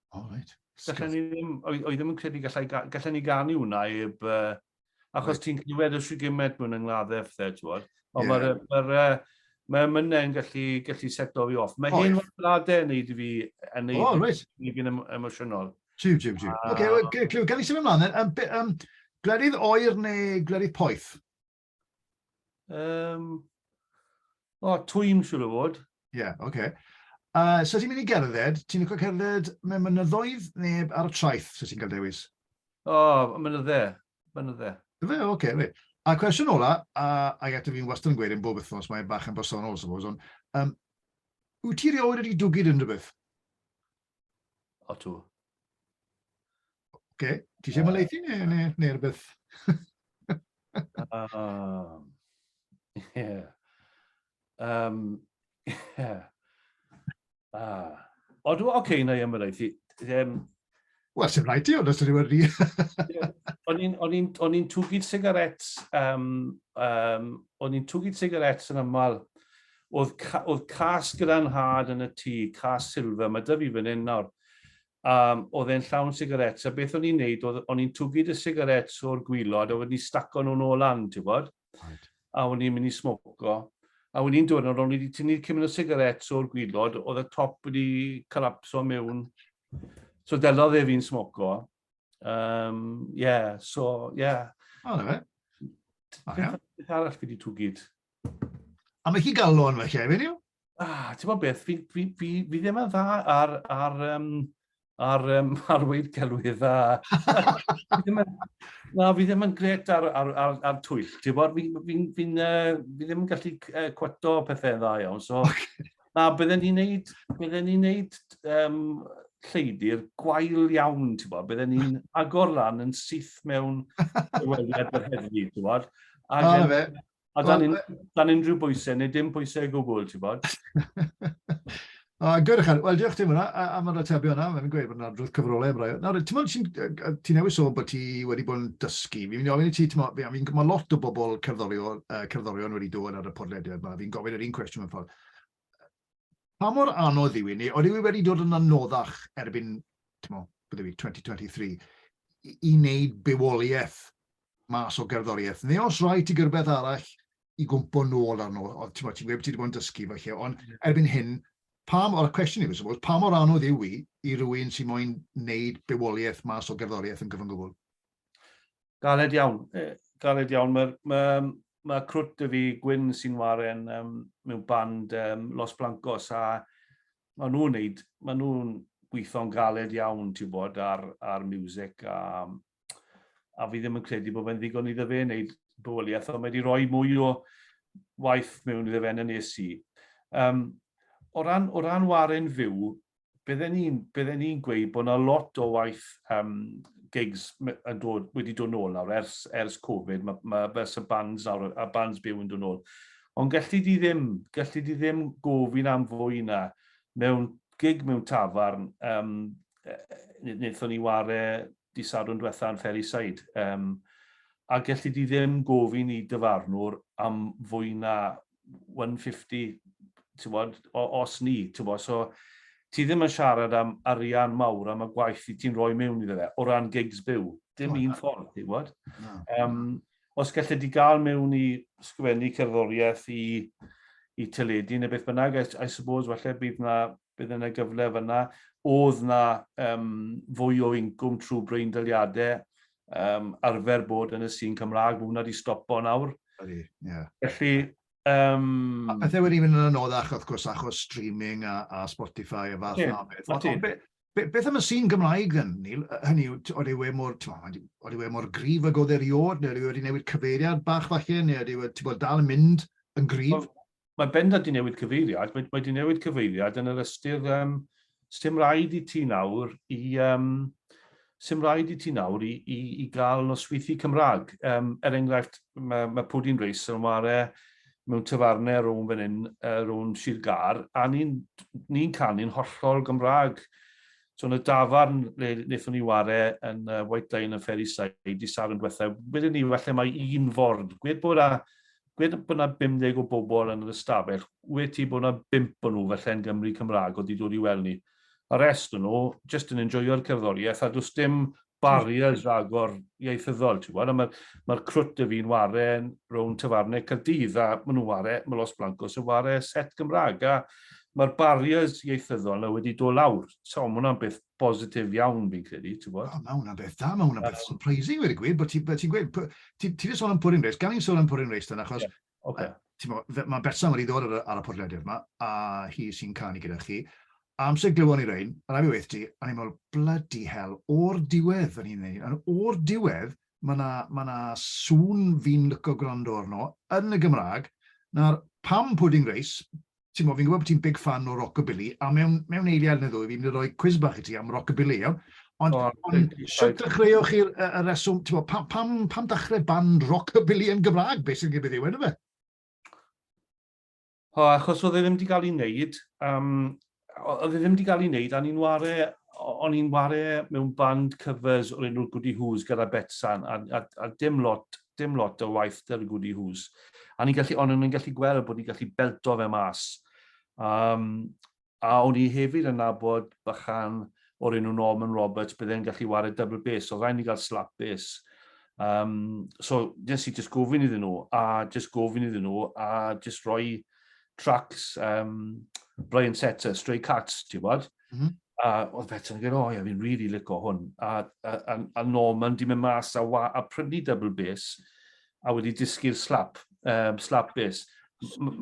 O, reit. Gallai ni ddim, oedd ddim yn credu gallai, gallai ni ganu hwnna eb... Uh, achos right. ti'n clywed y sigimed mwyn yng ngladdau ffedd, ti'n bod. Ond yeah. mae'r ma ma ma mynnau yn gallu, gallu seto fi off. Mae hyn o'r bladau yn neud i fi, yn neud oh, right. i fi'n emosiynol. Jiw, jiw, jiw. Oce, gael ei symud ymlaen. Um, um, glerydd oer neu glerydd poeth? Um, o, twym siwr o fod. Ie, yeah, oce. Okay. Uh, so ti'n mynd i gerdded, ti'n licio cerdded mewn mynyddoedd neu ar y traeth, so ti'n cael dewis? O, oh, mynydde, mynydde. Fe, oce, okay, fe. A cwestiwn ola, a, a eto fi'n wastad yn gweud yn bob wythnos, mae bach yn bersonol, suppose, ond um, wyt ti rioed wedi dwgyd yn rhywbeth? O, tŵ. Oce, ti eisiau maleithi neu, neu, neu rhywbeth? um, yeah. Um, yeah. Ah. O, dwi'n oce okay, na i ymwneud. Um, Wel, sy'n rhaid ti, ond os ydyw'r rhi. O'n i'n twgyd sigaret, um, um, o'n i'n twgyd sigaret yn aml Oedd ca- oedd cas gyda nhad yn y tŷ, cas silver, mae 'da fi fan hyn nawr. Um, oedd e'n llawn sigarets, a beth o'n i'n neud, oedd o'n i'n twgu dy sigarets o'r gwylod, a wedyn ni staco nhw'n ôl lan, ti'n bod? Right. A o'n i'n mynd i smoco. A o'n i'n dod yn o'n i wedi tynnu cymryd o sigarets o'r gwylod, oedd y top wedi collapso mewn. So delodd e fi'n smoco. Um, yeah, so, yeah. O, na fe. Beth arall fi wedi twgyd? A mae chi galon fe, Kevin, yw? Ah, ti'n bod beth, fi, fi, fi, fi ddim yn dda ar, ar, um, ar, um, ar weid celwydd a... na, fi ddim yn gret ar, ar, ar, ar twyll, ti'n bod, fi, fi, fi, fi, fi ddim yn gallu uh, cweto pethau dda iawn, so... Na, bydden ni'n neud, bydden ni'n neud um, lleidr gwael iawn, ti'n bod. Bydden ni'n agor lan yn syth mewn dywediad yr heddlu, ti'n bod. A, oh, fe. a dan, un, dan unrhyw bwysau, neu dim bwysau gwbl, ti'n bod. O, gyrch ychan. Wel, diolch ti hwnna am yr atebio yna. Mae'n gweud bod yna drwy'r cyfrolau am rai. Nawr, ti'n meddwl, ti'n newis o bod ti wedi bod yn dysgu. Fi'n mynd i ofyn i ti, ti'n meddwl, mae lot o bobl cerddorion, uh, cerddorion wedi dod ar y podlediad yma. Fi'n gofyn yr un cwestiwn mewn ffordd. Pa mor anodd yw i ni, oeddi wi wedi dod yn anoddach erbyn, ti'n mo, bydde fi, 2023, i, i wneud bywoliaeth mas o gerddoriaeth, neu os rhaid ti gyrbeth arall i gwmpo nôl arno, oedd ti'n ti wedi bod yn dysgu fo lle, ond mm. erbyn hyn, pa mor, y cwestiwn yw, suppose, pa mor anodd yw i i rywun sy'n moyn wneud bywoliaeth mas o gerddoriaeth yn gyfyngwbl? Galed iawn, galed iawn. Mae, mae, mae crwt dy fi Gwyn sy'n waren um, mewn band um, Los Blancos a maen nhw'n neud, maen nhw'n gweithio'n galed iawn, ti'n bod, ar, ar music a, a fi ddim yn credu bod fe'n ddigon iddo fe wneud bywoliaeth, ond mae wedi rhoi mwy o waith mewn iddo fe yn y nes i. Um, o, ran, o ran waren fyw, bydden ni'n bydde ni gweud bod yna lot o waith um, gigs yn dod, wedi dod nôl nawr ers, ers Covid, mae ma, ma y bands nawr, a bands byw yn dod nôl. Ond gallu di ddim, gallu di ddim gofyn am fwy na mewn gig mewn tafarn, um, wnaethon ni ware di sadwn diwetha yn Ferryside, um, a gallu di ddim gofyn i dyfarnwr am fwy na 150, ti'n bod, os ni, ti'n bod, so ti ddim yn siarad am arian mawr am y gwaith i ti'n rhoi mewn iddo fe, o ran gigs byw. Dim un ffordd, ti'n bod. Um, os gallu di gael mewn i sgwennu cerddoriaeth i, i teledu neu beth bynnag, I, I suppose, falle bydd na bydd yna gyfle fan'na. O'dd 'na yym fwy o incwm trwy breindaliade yym arfer bod yn y sîn Cymra'g, ma' hwnna 'di stopo nawr. Ydi, ie. Felly yym... A pethe wedi mynd yn anoddach wrth gwrs achos streaming a a Spotify a fath 'na o beth. Ydi, ydi. Be- be- beth am y sîn Gymraeg then Neil? Yy hynny yw t- odi we mor t'mo' odi odi we mor gryf ag o'dd e riod ne' ydi wedi newid cyfeiriad bach falle ne' ydi we t'bod dal yn mynd yn gryf? mae bendant di newid cyfeiriad, mae, mae di newid cyfeiriad yn yr ystyr, um, sy'n rhaid i ti nawr i, um, sy'n rhaid i ti nawr i, i, i gael nosweithi Cymraeg. Um, er enghraifft, mae, mae Pwdin Reis yn ware mewn tyfarnau rhwng fan hyn, uh, rhwng Sir Gar, a ni'n ni canu'n hollol Gymraeg. So yn y dafarn le wnaethon ni ware yn uh, White Line yn Ferry Side i sar yn diwethaf, wedyn ni, falle mae un ford, gwed bod a gwed bod yna 50 o bobl yn yr ystafell, wed ti bod yna bump o nhw falle'n Gymry Cymraeg oedd 'di dod i weld ni. Y rest o nhw jyst yn enjoio'r cerddoriaeth a does dim barriers rhagor ieithyddol ti'n gwybod a mae'r ma crwt y fi'n ware rownd tafarnau Caerdydd a maen nhw'n ware, mae Los Blancos yn ware set Gymraeg a mae'r barriers ieithyddol na wedi dod lawr. So mae hwnna'n beth bositif iawn fi'n credu, ti'n gwybod? O, mae hwnna'n beth da, mae hwnna'n beth surprising wedi gwir, bod ti'n ti gweud, ti'n ti sôn am Purim Reis, gan i'n sôn am Purim Reis dan, achos, yeah. okay. uh, mae Betsan wedi dod ar, ar y podlediad yma, a hi sy'n canu gyda chi, amser glywon ni rein, a rhaid i weithio ti, a ni'n meddwl, bloody hell, o'r diwedd yn hyn yn o'r diwedd, mae yna ma, na, sŵn fi'n lyco gwrando arno yn y Gymraeg, na'r pam pudding race, Timo, fi'n gwybod bod ti'n big fan o rockabilly, a mewn, mewn eiliad neu ddwy, fi'n mynd i roi quiz bach i ti am rockabilly, iawn? Ond, oh, ond sut dechreuoch chi'r y, y reswm, timo, pam, pam, pam dechrau band rockabilly yn Gymraeg, beth sy'n gybydd yw enw fe? O, achos oedd e ddim wedi cael ei wneud, um, oedd e ddim wedi cael ei wneud, a ni'n ware, o'n i'n ware mewn band covers o'r enw Goody Who's gyda Betsan, a, a, a dim lot dim lot o waith da the goody who's. A ni'n gallu, ond ni'n gallu gweld bod ni'n gallu belto fe mas. Um, a o'n i hefyd yn nabod bychan o'r enw Norman Roberts, bydde'n gallu wario double bass, so rhaid ni gael slap bass. Um, so, nes i just gofyn iddyn nhw, a just gofyn iddyn nhw, a just rhoi tracks um, Brian Setzer, Stray Cats, ti'n bod? Mm -hmm. A oedd Betsan yn gweud, o ia, fi'n really lico hwn. A, a, a, a Norman di mynd mas a, wa, a prynu double bass a wedi dysgu'r slap, um, slap bass.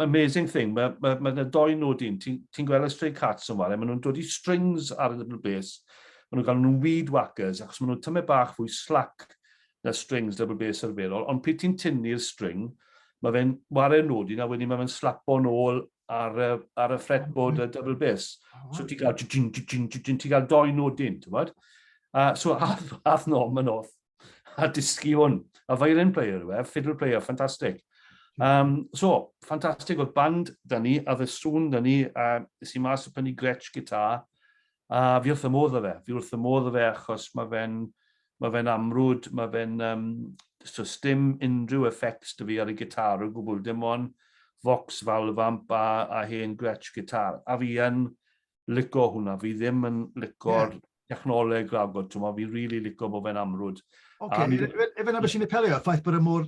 Amazing thing, mae ma, ma, ma doi nhw dyn, ti'n ti gweld y stray cats yn wale, maen nhw'n dod i strings ar y double bass, maen nhw'n cael nhw'n weed whackers, achos maen nhw'n tymau bach fwy slack na strings double bass arferol, ond pryd ti'n tynnu'r string, mae fe'n wario nodyn a wedyn mae fe'n slapo'n ôl ar, ar y fretboard y double bass. So ti'n cael, ti'n cael doi nodyn, ti'n bod? Uh, so ath, ath nom yn off a dysgu hwn. A violin player yw e, fiddle player, ffantastig. Um, so, ffantastig oedd band da ni, a ddyswn da ni, a nes i mas o pennu Gretsch gitar, a fi wrth y modd o fe. Fi wrth y modd o fe achos mae fe'n Mae fe'n amrwd, mae fe'n yym so sdim unrhyw effects 'da fi ar y gitar o gwbl, dim on' Vox valve amp a a hen Gretsch gitar, a fi yn lico hwnna, fi ddim yn lico'r... Ie. ...technoleg ragor, t'mo' fi rili lico bo' fe'n amrwd. Ocê, ife 'na be' sy'n apelio, y ffaith bod e mor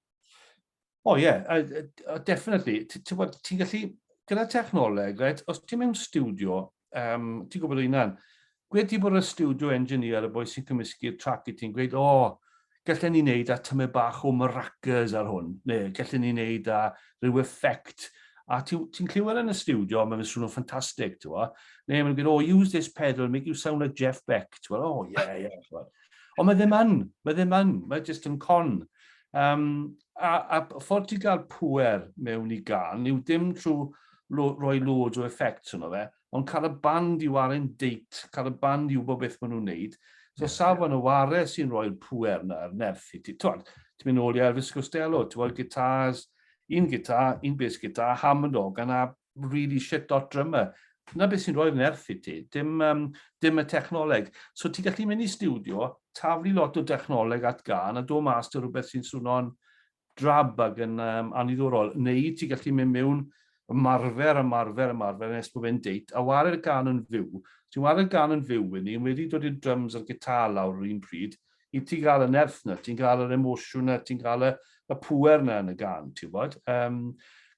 O ie, definitely. Ti'n bod, ti'n gallu, gyda technoleg, right, os ti'n mewn studio, um, ti'n gwybod hynna'n, gwed ti bod y studio engineer, y boi sy'n cymysgu'r trac i ti'n gweud, o, oh, gallen ni wneud a tymu bach o maracas ar hwn, neu gallen ni wneud a rhyw effect, a ti'n ti clywed yn y studio, mae'n swnio ffantastig, ti'n gwybod, neu mae'n gwneud, oh, use this pedal, make you sound like Jeff Beck, ti'n gwybod, oh, yeah, yeah, ti'n gwybod. Ond mae ddim yn, mae ddim yn, mae jyst yn con. Um, a, a ffordd ti gael pwer mewn i gan yw dim trwy roi loads o effect yno fe, ond cael y band i warin deit, cael y band i wybod beth maen nhw'n neud. So yeah, safon yeah. y ware sy'n rhoi'r pwer na, yr nerth i ti. Ti'n mynd ôl i Elvis Costello, ti'n gweld gitars, un gitar, un bass gitar, Hammond organ a really shit dot drummer. Dyna beth sy'n rhoi fy nerth i ti, dim, um, dim y technoleg. So ti'n gallu mynd i studio, taflu lot o technoleg at gan a do mas dy rhywbeth sy'n swno'n drab ag yn um, aniddorol. Neu ti'n gallu mynd mewn ymarfer, ymarfer, ymarfer, nes bod fe'n deit, a ware'r gan yn fyw. Ti'n ware'r gan yn fyw i ni, wedi dod i'r drums a'r gitar lawr yr un pryd, i ti gael y nerth na, ti'n cael yr emosiwn na, ti'n cael y, y pwer na yn y gan, ti'n bod. Um,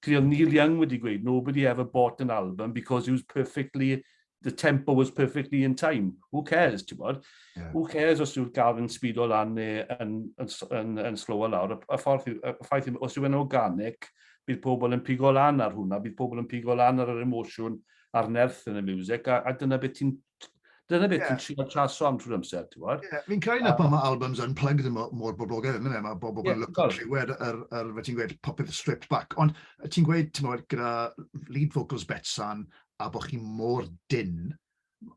Cri oedd Neil Young wedi gweud, nobody ever bought an album because it was perfectly, the tempo was perfectly in time. Who cares, ti'n bod? Yeah. Who cares os yw'r gaf yn o lan neu yn, yn, yn, yn slower lawr. Y, y ffordd, y ffaith yw, os yw'n organic, bydd pobl yn pigo lan ar hwnna, bydd pobl yn pigo lan ar yr emosiwn a'r nerth yn y music, a, a dyna beth ti'n Dyna beth yeah. ti'n trio traso am trwy'r amser, ti'n gwybod? Yeah. Fi'n cael na pan mae albums unplugged yn mor boblogaidd, yn yma, mae bobl yn look at rhywed ar, ar, fe ti'n gweud popeth stripped back, ond ti'n gweud, ti'n gweud, gyda lead vocals Betsan, a bod chi mor dyn,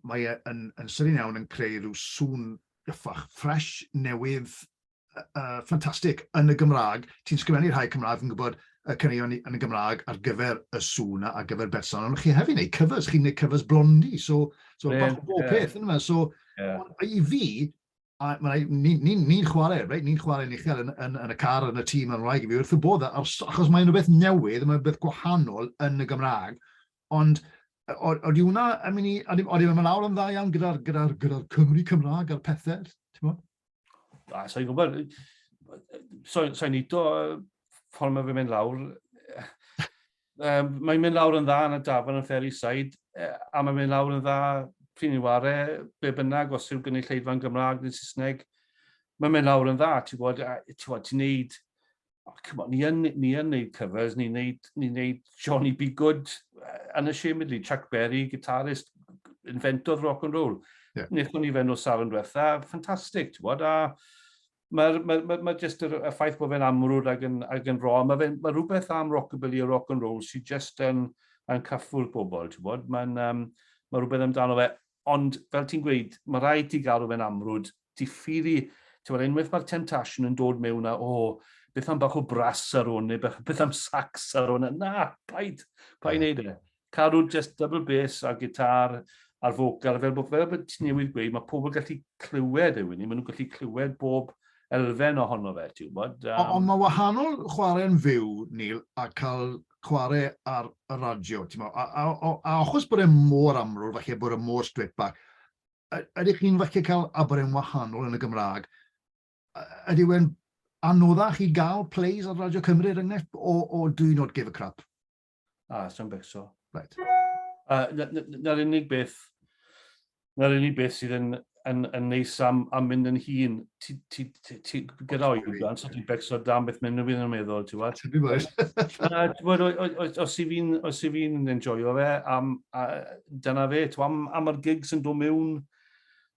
mae e yn, yn sydyn iawn yn creu rhyw sŵn gyffach, ffres, newydd, uh, ffantastig yn y Gymraeg. Ti'n sgrifennu rhai Cymraeg, fi'n gwybod y caneuon yn y Gymraeg ar gyfer y sŵn a ar gyfer berson, ond chi hefyd wneud covers, chi'n gwneud covers blondi, so, so yeah, bach o bob yeah. peth yn yma. So, yeah. i fi, ni'n ni, ni, ni chwarae, right? ni'n chwarae ni chael yn, yn, yn, y car, yn y tîm, yn rhaid i fi wrth y bodd, achos mae'n rhywbeth newydd, mae'n rhywbeth gwahanol yn y Gymraeg, ond oeddi hwnna, I mean, oeddi hwnna lawr yn dda iawn gyda'r gyda, gyda Cymru Cymraeg a'r pethau, ti'n bod? A, sa'n i'n gwybod, sa'n so, i'n do, ffordd mae fe mynd lawr, um, mae'n mynd lawr yn dda yn y dafod yn Ferry Side, e, a mae'n mynd lawr yn dda pryn i'n ware, be bynnag, os yw'n gynnu lleidfa'n Gymraeg neu Saesneg, mae'n mynd lawr yn dda, ti'n gwybod, ti'n gwybod, ti'n neud oh, come on, ni yn, ni yn neud covers, ni'n neud, ni neud Johnny B. Good, uh, unashamedly, Chuck Berry, guitarist, inventor rock and roll. Yeah. Nethon ni fe'n o sal yn diwetha, ffantastig, ti'n bod, a mae'r ma, ma, ma just y, y ffaith bod fe'n amrwd ag yn, ag yn ro, mae ma rhywbeth am rockabilly a rock and roll sy'n just yn, yn caffwr pobl, ti'n bod, mae'n um, ma rhywbeth amdano fe, ond fel ti'n gweud, mae rhaid ti gael rhywbeth amrwd, diffydd-i, ti'n gwybod, unwaith mae'r temptation yn dod mewn a, o, beth am bach o bras ar hwn, neu beth, beth am sax ar hwn, na, paid, paid wneud e. Cadw just double bass a gitar a'r focal, fel bod, fel bod ti'n newid gweud, mae pobl gallu clywed e, Wini, maen nhw'n gallu clywed bob elfen ohono fe, ti'n gwybod. Um... Ond mae wahanol chwarae'n fyw, Neil, a cael chwarae ar y radio, ti'n meddwl, a, a, a, a achos bod e mor amrwr, falle bod e mor strip back, ydych chi'n falle cael aberau'n wahanol yn y Gymraeg? Ydy wedi'n anoddach i gael plays ar Radio Cymru, er enghraifft, o, o do you not give a crap? A, ah, sy'n becso. Right. Uh, Na'r unig beth, 'na'r unig beth sydd yn, yn, yn neis am, am mynd yn hun. Ti, ti, ti, ti gyda oedran, so ti'n becso dan beth mynd yn yn meddwl, ti'n gwybod? Ti'n gwybod? Os i fi'n, os i fi'n enjoyo fe, am, a, dyna fe, ti'n am, am yr gigs yn dod mewn,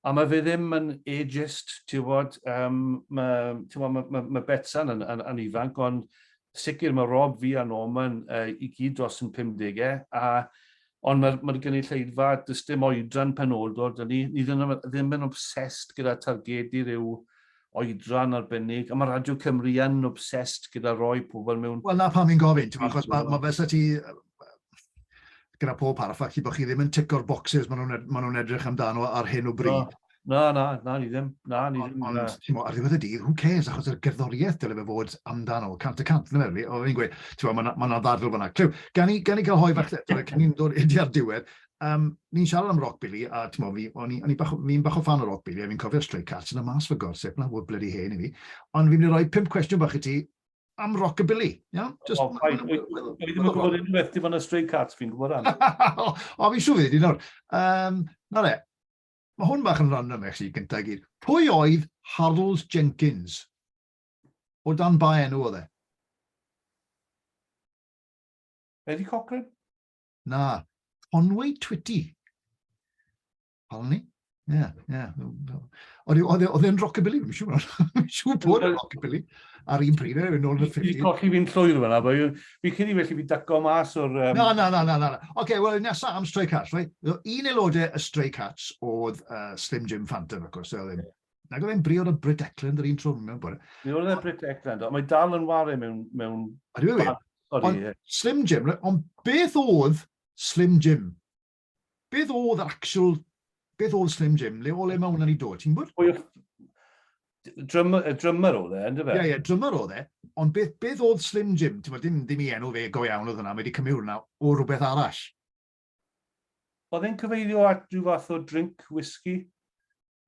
a mae fe ddim yn ageist, ti'n gwybod, um, mae, ti'n gwybod, mae, mae, mae Betsan yn, yn, yn ifanc, ond sicr mae Rob fi a Norman uh, i gyd dros yn 50au, a Ond mae'r mae'r gynulleidfa, does dim oedran penodol 'da ni. Ni ddim yn ddim yn obsessed gyda targedu rhyw oedran arbennig, a mae Radio Cymru yn obsessed gyda rhoi pobl mewn... Wel 'na pam fi'n gofyn, timod, achos ma' ma' fel 'sa ti gyda pob parch, falle bod chi ddim yn tico'r bocsys maen nhw'n ed- maen nhw'n edrych amdano ar hyn o bryd. Na, na, na, ni ddim. Na, ni ddim. Ond, ti'n ar ddiwedd y dydd, who cares, achos yr gerddoriaeth dyle fe fod amdano, cant y cant, dyna fe, o'n i'n gweud, ti'n bod, mae yna ddadl fyna. Clyw, gan i, gan i gael hoi fach, cyn i'n dod i ar diwedd, um, ni'n siarad am rock Billy, a ti'n bod, o'n i'n bach, fi bach o fan o rock Billy, a fi'n cofio Stray Cats yn y mas fy gorsip, na, wyd bloody hen i fi, ond fi'n mynd i roi pimp cwestiwn bach i ti, am rockabilly. Yeah? Just, oh, fine. Dwi ddim yn gwybod unrhyw beth dim ond y Stray Cats fi'n gwybod am. o, fi'n siŵr fydd i nawr. Um, na le, Mae hwn bach yn random actually, gyntaf i gyd. Pwy oedd Harls Jenkins? O dan ba enw oedd e? Eddie Cochran? Na, Conway Twitty. Pal ni? Ie, ie. Oedd e'n rockabilly? Fi'n siŵr bod e'n rockabilly. ar un pryd, yn ôl yn y ffilm. Fi colli fi'n llwyr fyna, bo. Fi cyn i felly fi daco mas o'r... Um... Na, na, na, na, na. Oce, okay, wel, nesa am Stray Cats, right? Un aelodau y Stray Cats oedd uh, Slim Jim Phantom, of course, oedd ddim. Nag oedd e'n briod o Brit Eklund yr un trwm mewn bod. Mi oedd e Brit Eklund, ond mae dal yn wario mewn... mewn... Ydw i wir? Ond Slim Jim, ond beth oedd Slim Jim? Beth oedd yr actual... Beth oedd Slim Jim? Le o le mae hwnna wedi dod, ti'n gwybod? Pwy oedd... Drummer, drummer oedd e, ynddo fe? Ie, yeah, ie, yeah, drummer oedd e. Ond beth, beth oedd Slim Jim? Ti'n dim, dim i enw fe go iawn oedd hwnna, mae wedi cymryd hwnna o rhywbeth arall. Oedd e'n cyfeirio at rhyw fath o drink whisky?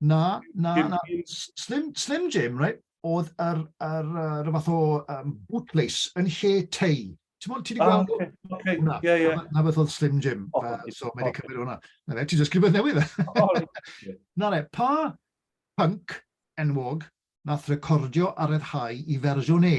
Na, na, na. Slim, Slim Jim, right? oedd yr, yr, yr, yr fath o um, bootlace yn lle tei. Ti'n mwyn, ti wedi gweld hwnna? Ah, okay. Na, yeah, yeah. na beth oedd Slim Jim, oh, uh, so mae wedi cymryd hwnna. Na ne, ti jyst rhywbeth newydd e. na ne, pa punk enwog nath recordio a reddhau i fersiwn E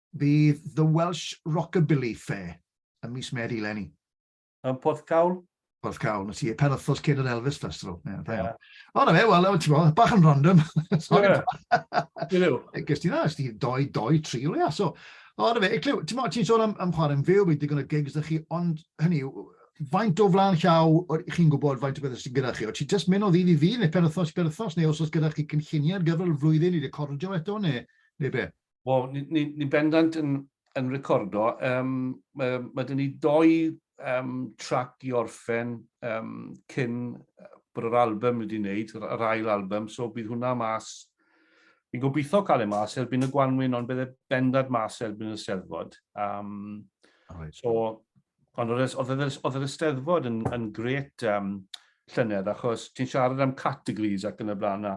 Bydd The Welsh Rockabilly Fair ym mis Medi eleni. Yn Porthcawl? Porthcawl, na ti, pen wythnos cyn yr Elvis Festival. Yeah, da iawn. O, na fe, wel, ti'n ti bod, bach yn random. Sorry. Gys ti na, ys ti doi, doi, tri o leia. So, o, na fe, ti'n ti ti'n sôn am, am chwarae'n fyw, bydd digon o gigs da chi, ond hynny yw, faint o flan llaw chi'n gwybod faint o beth sydd gyda chi? O ti jyst mynd o ddydd i ddydd neu pen wythnos i pen wythnos neu os oes gyda chi cynlluniau ar gyfer y flwyddyn i recordio eto neu, neu be? Wel, ni'n ni, ni bendant yn, yn recordo. Um, mae, mae dyn ni doi um, trac i orffen um, cyn bod yr album wedi wneud, yr ail album, so bydd hwnna mas. Fi'n gobeithio cael ei mas erbyn y gwanwyn, ond bydd e bendant mas erbyn y steddfod. Um, right. So, ond oedd e, e, e, yr ysteddfod yn, yn gret um, llynedd, achos ti'n siarad am categories ac yn y blaen na.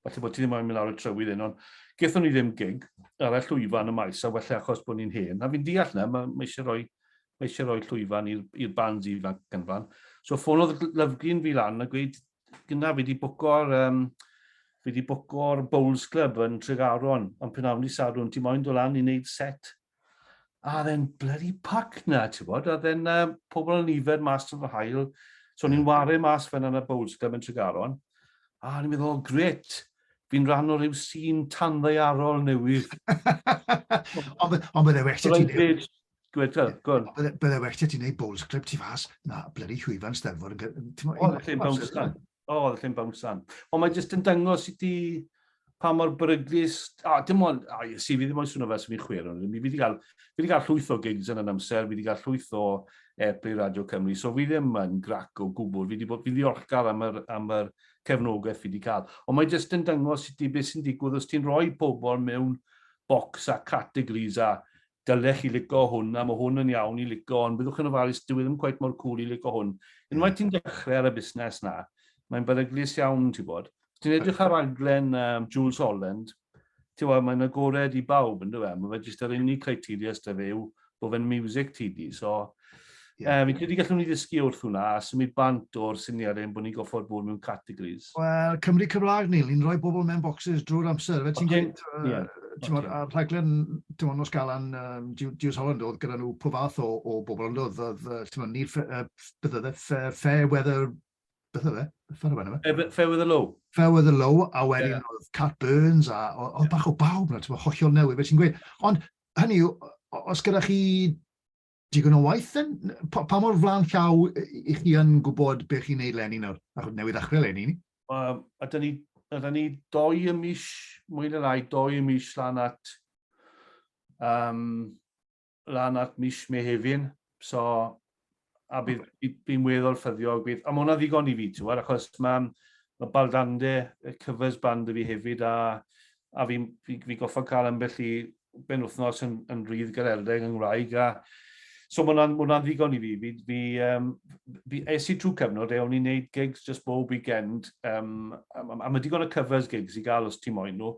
falle bod ti ddim moyn mynd lawr y trywydd hyn, ond gethon ni ddim gig ar y llwyfan y maes, a wella achos bod ni'n hen. A fi'n deall na, mae, mae eisiau rhoi, mae eisiau rhoi llwyfan i'r bands ifanc yn fan. So ffonodd Lyfglyn fi lan a gweud, gyna fi wedi bwco'r um, fi wedi bwco'r Bowls Club yn Tregaron, ond pen awn i Sadwn, ti moyn dod lan i wneud set A oedd e'n bloody pac na, ti'n bod? A oedd e'n uh, pobl yn nifer mas to fy hael. So yeah. ni'n wario mas fan yna Bowls Club yn Tregaron. A ni'n meddwl, oh, gret, fi'n rhan o ryw sy'n tanddaearol newydd. Ond bydde well ti neud... Gweta, gwn. Bydde well ti neud Bowls Club ti fas, na, bloody llwyfan stelfor. Oedd e'n lle Bowls Club. O, oh, oedd yn bownsan. Ond mae jyst yn dangos i ti pa mor beryglus... O, dim ond... O, ie, si, fi ddim ond swnio fel sy'n mynd chwer. Ond fi wedi cael, fi wedi cael llwyth o gigs yn yn amser, fi wedi cael llwyth o Airplay Radio Cymru, so fi ddim yn grac o gwbl. Fi wedi bod, fi ddiolchgar am yr, am yr cefnogaeth fi wedi cael. Ond mae jyst yn dangos i ti beth sy'n digwydd os ti'n rhoi pobl mewn bocs a categories a dyle chi lico hwn a ma hwn yn iawn i lico ond byddwch yn ofalus dyw e ddim cweit mor cwl i lico hwn. Unwaith ti'n dechrau ar y busnes 'na mae'n beryglus iawn ti'n bod. Os ti'n edrych ar raglen um, Jools Holland ti'n bod mae'n agored i bawb yndyw e? Mae fe jyst yr unig criteria sydd 'da fe yw bod fe'n music ti di so Yeah. Um, fi'n credu gallwn ni ddysgu wrth hwnna a symud bant o'r syniad ein bod ni'n goffo'r bod mewn categories. Wel, Cymru Cymraeg, Neil, ni'n rhoi bobl mewn boxes drwy'r amser. Fe ti'n gweud, a rhaglen, ti'n mwyn, nos galan, um, Diws Holland oedd gyda nhw pob fath o, o bobl, ond oedd, oedd ti'n mwyn, Neil, uh, beth oedd e, fair weather, beth oedd e? Fair weather low. Fair weather low. Fair weather low, a wedyn yeah. oedd Cat Burns, a oedd bach o bawb, ti'n mwyn, hollol newydd, fe ti'n gweud. Ond, hynny yw, os gyda chi digon o waith then? Pa, pa mor flan llaw i chi yn gwybod beth chi'n neud lenni nawr? Achos newydd ddechrau lenni ni. Um, a da ni, a da ni doi y mis, mwy na rai, doi y mis lan at, um, lan at mis Mehefin. So, a bydd, bydd, bydd weddol ffyddiog. Bydd, a mae hwnna ddigon i fi, ti'n achos mae ma Baldande, y covers band y fi hefyd, a a fi'n fi, fi goffa cael ambell i ben wythnos yn, yn rydd gareldeg yng Ngwraeg, a so mae hwnna'n hwnna ddigon i fi. Fi, fi, um, fi es i trwy cyfnod e, o'n i'n neud gigs just bob weekend, um, a, a mae digon o covers gigs i gael os ti moyn nhw,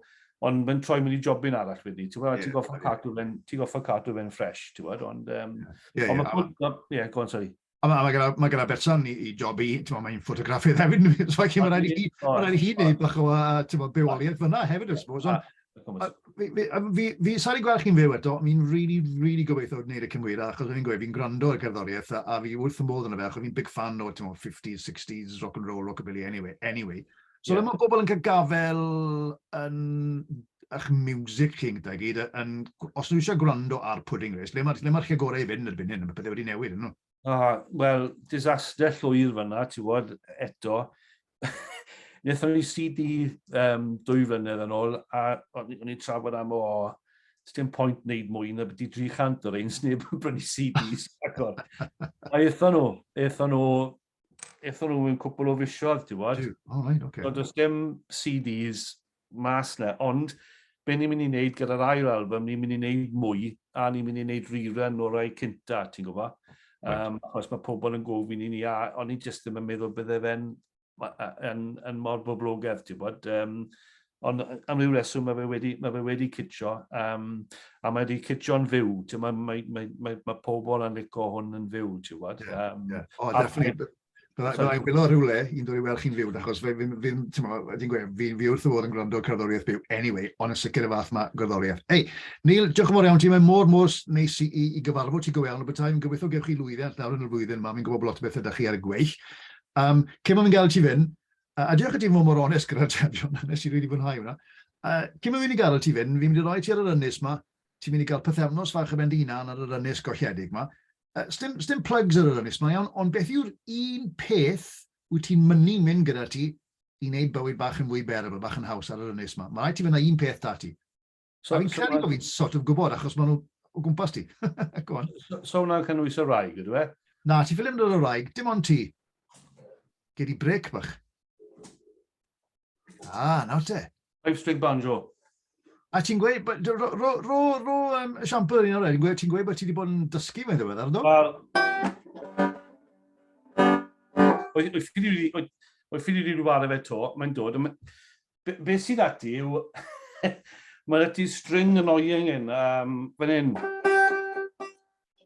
ond mae'n troi mynd i jobyn arall wedi, ti'n gwybod, yeah, ti'n goffa yeah. cadw fe'n, ti'n goffa cadw fe'n ffres, ti'n gwybod, ond, um, yeah, yeah, ond yeah, go on, sorry. A mae ma gyda, ma gyda berson i, i job i, ti'n mae'n ffotograffydd hefyd, so felly mae'n rhaid i hi, mae'n rhaid i hi wneud bach o, ti'n mae'n bywoliaeth fyna hefyd, I suppose. Fi, fi, sa'n i'n gweld chi'n fyw eto, mi'n really, really gobeithio wneud y cymwyra, achos fi'n gweud, fi'n gwrando ar gerddoriaeth, a, a fi wrth y modd yn y fe, achos fi'n big fan o, ti'n 50s, 60s, rock and roll, rockabilly, anyway, anyway. So yeah. mae pobl yn cael gafel yn eich music chi gyda gyd, yn, os nhw eisiau gwrando ar Pudding Race, le mae'r ma, lle gorau i fynd erbyn hyn, mae pethau wedi newid, nhw? Ah, Wel, disaster llwyr fyna, ti wod, eto. Nethon ni CD um, dwy flynedd yn ôl, a o'n i'n trafod am o, dim pwynt wneud mwy na byddu 300 o'r ein sneb yn brynu CDs. Aethon nhw, aethon nhw eitho nhw mewn cwpl o fisoedd, ti'n bod? O, right, okay. So, does dim CDs mas na, ond be ni'n mynd i wneud gyda'r ail album, ni'n mynd i wneud mwy, a ni'n mynd i wneud rerun o'r rhai cynta, ti'n gwybod? Right. Um, achos mae pobl yn gofyn i ni, a o'n i jyst ddim yn meddwl bydde fe'n yn, yn mor boblogaidd, ti'n bod? Um, Ond am ryw reswm mae fe wedi, mae fe wedi cydio, um, a mae wedi cytio'n fyw. Mae, mae, mae, mae, mae pobl yn licio hwn yn fyw, ti'n gwybod? Yeah, um, yeah. O, oh, definitely. Byddai'n gwylio rhywle i'n dod i weld chi'n fyw, achos fe, fi'n, fi, ti'n mo, fi'n gweud, fi'n fi wrth y fod yn gwrando cerddoriaeth byw, anyway, ond yn sicr y fath mae gerddoriaeth. Ei, Neil, diolch yn fawr iawn ti, mae mor mor neis i, i, i gyfarfod ti go iawn o bethau, fi'n gobeithio gewch chi lwyddiant nawr yn y flwyddyn yma, fi'n gwybod bod lot o bethau da chi ar y gweill. Um, cyn ma'n gael ti fynd, A, a diolch i ti fod mor onest gyda'r atebion, nes i rili fwynhau hwnna. Uh, cyn mynd i gael ti fynd, fi'n mynd i roi ti ar yr ynys ma, ti'n mynd i gael pythefnos fach yn mynd i hunan ar yr ynys golledig ma. Uh, stim, stim plugs ar yr ynys ma iawn, ond beth yw'r un peth wyt ti'n mynnu mynd gyda ti i wneud bywyd bach yn fwy bearable, bach yn haws ar yr ynys ma? Mae rhaid ti fynd â un peth da ti. So, fi'n credu bod fi'n sort of gwybod, achos maen nhw o gwmpas ti. Go on. So, so hwnna'n cynnwys y rhaeg, ydw e? Na, ti ffilm dod o rhaeg, dim ond ti. Gyd i brec bach. Ah, nawr te. Five string banjo. A ti'n gweud, ro, ro, ro, ro ro um, esiampl yr un o'r edrych, ti'n gweud bod ti wedi bod yn dysgu mae'n ddiwedd, ardo? Wel, oedd ffili wedi rhywbeth efe to, mae'n dod, Be, be sydd ati yw... Mae ati string annoying yn um, fan hyn.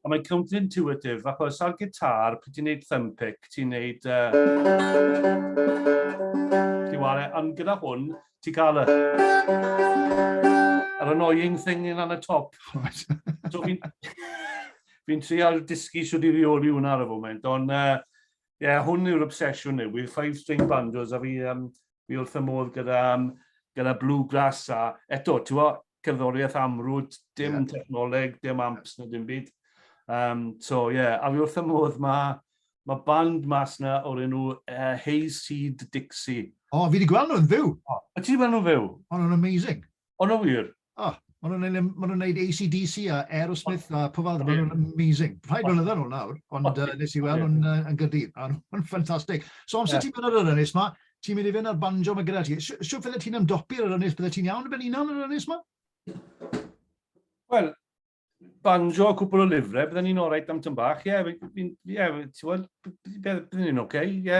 A mae'n counterintuitive, achos ar gitar, pryd ti'n neud thumb pick, ti'n neud... Uh, ti'n ware, ond gyda hwn, ti'n cael y... Yr annoying thing yn anna top. so fi'n... fi'n trial dysgu sydd wedi reoli hwnna ar y foment, ond... Uh, yeah, hwn yw'r obsesiwn yw, yw'r five string banjos a fi... Um, fi wrth y modd gyda, um, gyda Bluegrass a eto, ti'n fawr, cerddoriaeth amrwd, dim yeah. technoleg, dim amps na dim byd. Um, so, ie, yeah, a fi wrth y modd mae ma band mas na o'r enw uh, Hayseed Dixie. O, oh, fi wedi gweld nhw'n fyw. O, oh, ti wedi gweld nhw'n fyw? O, oh, nhw'n amazing. O'n nhw wir? O, maen nhw'n neud, maen nhw'n neud ACDC a Aerosmith a pob arall, maen nhw'n amazing. Rhaid nhw'n ydyn nhw'n nawr, ond uh, nes i weld nhw'n uh, yn gydydd, a nhw'n ffantastig. So amser yeah. ti'n mynd ar yr ynys ma, ti'n mynd i fynd ar banjo ma gyda ti. Siw fydde ti'n ymdopi ar yr ynys, bydde ti'n iawn yn ben unan ar yr ynys ma? Wel, banjo cwpl o lyfrau, byddwn ni'n o'r reit am tyn bach, ie, yeah, ti'n gwybod, byddwn ni'n oce, ie.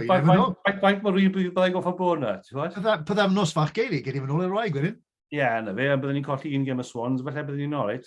Faint mor wir byddai goffa bo yna, ti'n gwybod? Byddaf nos fach geili, gen i fy nôl i'r wraig wedyn. Ie, na fe, byddwn ni'n colli un gem y Swans, felly byddwn ni'n o'r reit.